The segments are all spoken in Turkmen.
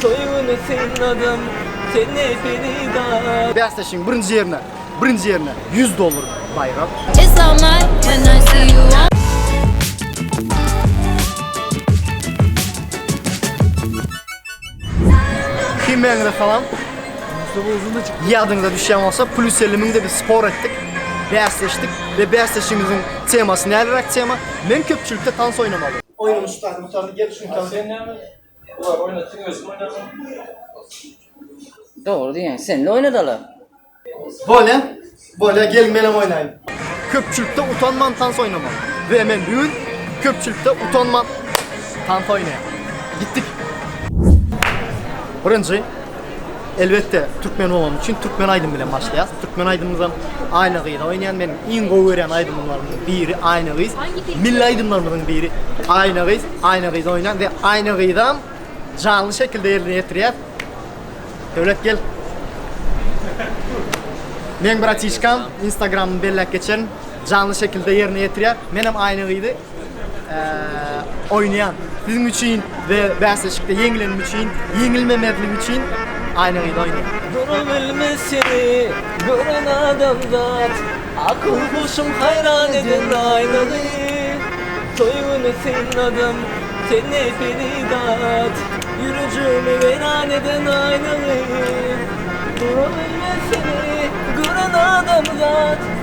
Toý güni synladym seni Ferida. Bäsleşigiň birinji ýerine birinji ýerine ýüz dollar baýrak. It's all mine and I see you all. Hemmäňize salam. Ýadyňyza düşýän bolsa, Plus elli müňde biz spor etdik, bäsleşdik we bäsleşigimiziň temasy näleräk tema? Men köpçülikde tans oýnamaly. Oýnuň şypasyny gurtardy, gel şuny tans et. Olar oýnatdyň özüm oýnadym. Dogry diýen. Sen de oýnadaly. Bolya, bolya gel menem oýnaýyn. Köpçülikde utanman tans oýnamak. We men bu gün köpçülikde utanman tans oýnaýan. Gitdik. Birinji. Elbetde türkmen bolanym üçin türkmen aýdymy bilen başlaýas. Türkmen aýdymymyzam Aýna gyz oýnaýan. Men iň gowy görýän aýdymlarymyň biri Aýna gyz. Milli aýdymlarymyzyň biri Aýna gyz, Aýna gyz oýna we Aýna gyzam janly şekilde ýerine ýetirýär. Döwlet gel. Meň bratişkam Instagramyny belläp geçerin. Janly şekilde ýerine ýetirýär. Menem Aýna gyzy oýnaýan. Siziň üçin we bäsleşikde ýeňilenim üçin, ýeňilmemezlik üçin aýna-gyz oýnaýan. Dura bilmez seni gören adamzat, akyl-huşum haýran eder aýna-gyz. Toý güni synladym seni Feridat, ýürejigimi weýran eden aýna-gyz. Dura bilmez seni gören adamzat.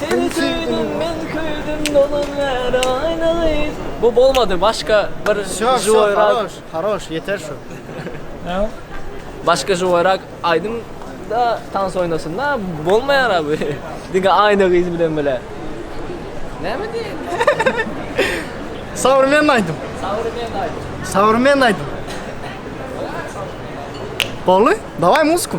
Seni söýdüm men köýdüm dolan ger aýna gyz. Bu bolmady başka bir joýrak. Haroş ýeter şu. Başka joýrak aýdym da tans oýnasyn da bolmaýar a bu diňe aýna gyz bilen bile. Näme diýeýin. Sowremenny aýdym. Sowremenny aýdym. Sowremenny aýdym. Boldy daway muzyku.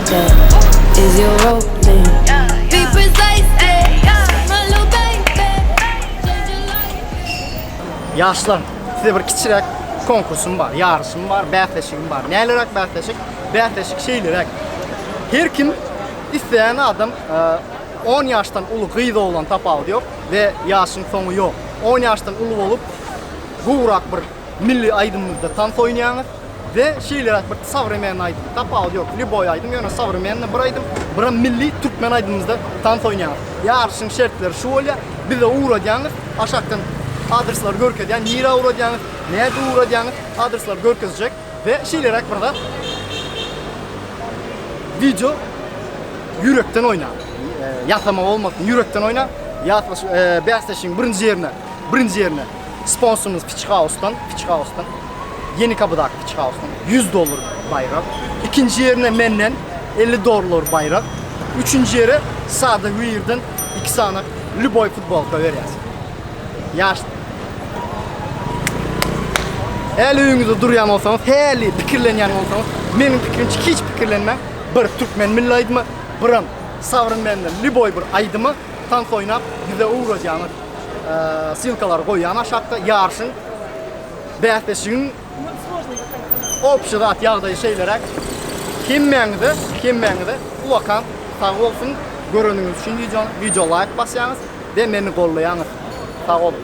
Ýaşlar, size bir kiçiräk konkursym bar, ýaryşym bar, bäsleşigim bar. Näleräk bäsleşik? Bäsleşik şeýleräk. Her kim, isleýän adam, on ýaşdan uly gyz-oglan tapawudy ýok we ýaşyň soňy ýok. On ýaşdan uly bolup, gowrak bir Milli aýdymymyzda tans oýnaýaňyz we şeýleräk bir sowremennyý aýdym, tapawudy ýok, lýuboý aýdym, ýöne sowremennyý bir aýdym, biram milli türkmen aýdymymyzda tans oýnaýaňyz. Ýaryşyň şertleri şu bolýar, bize ugradýaňyz, aşakdan adreslary görkezýän, nirä ugradýaňyz, nädip ugradýaňyz, adresleri görkezjek we şeýleräk bir zat, wideo ýürekden oýnaň, ýatlama bolmasyn, ýürekden oýnaň, ýatlaş, bäsleşigiň birinji ýerine, birinji ýerine. Sponsorymyz Piçihausdan, Piçihausdan, Ýenikapydaky Piçihausdan ýüz dollar baýrak. Ikinji ýerine menden elli dollar baýrak. Üçünji ýere Sada Wear-den iki sany lýuboý futbolka berýäs. Ýaş. Häli öýüňizde durýan bolsaňyz, häli pikirlenýän bolsaňyz, meniň pikirimçe hiç pikirlenmäň, bir türkmen milli aýdymy, biram Sabrym benden lýuboý bir aýdymy tans oýnap bize ugradýaňyz. Ssylkalary goýýan aşakda ýaryşyň bäsleşigiň obşy zat ýagdaýy şeýleräk. Hemmäňize, hemmäňize uwakan sag bolsun. Göreniňiz üçin wideony, wideo laýk basýaňyz we meni gollaýaňyz. Sag boluň.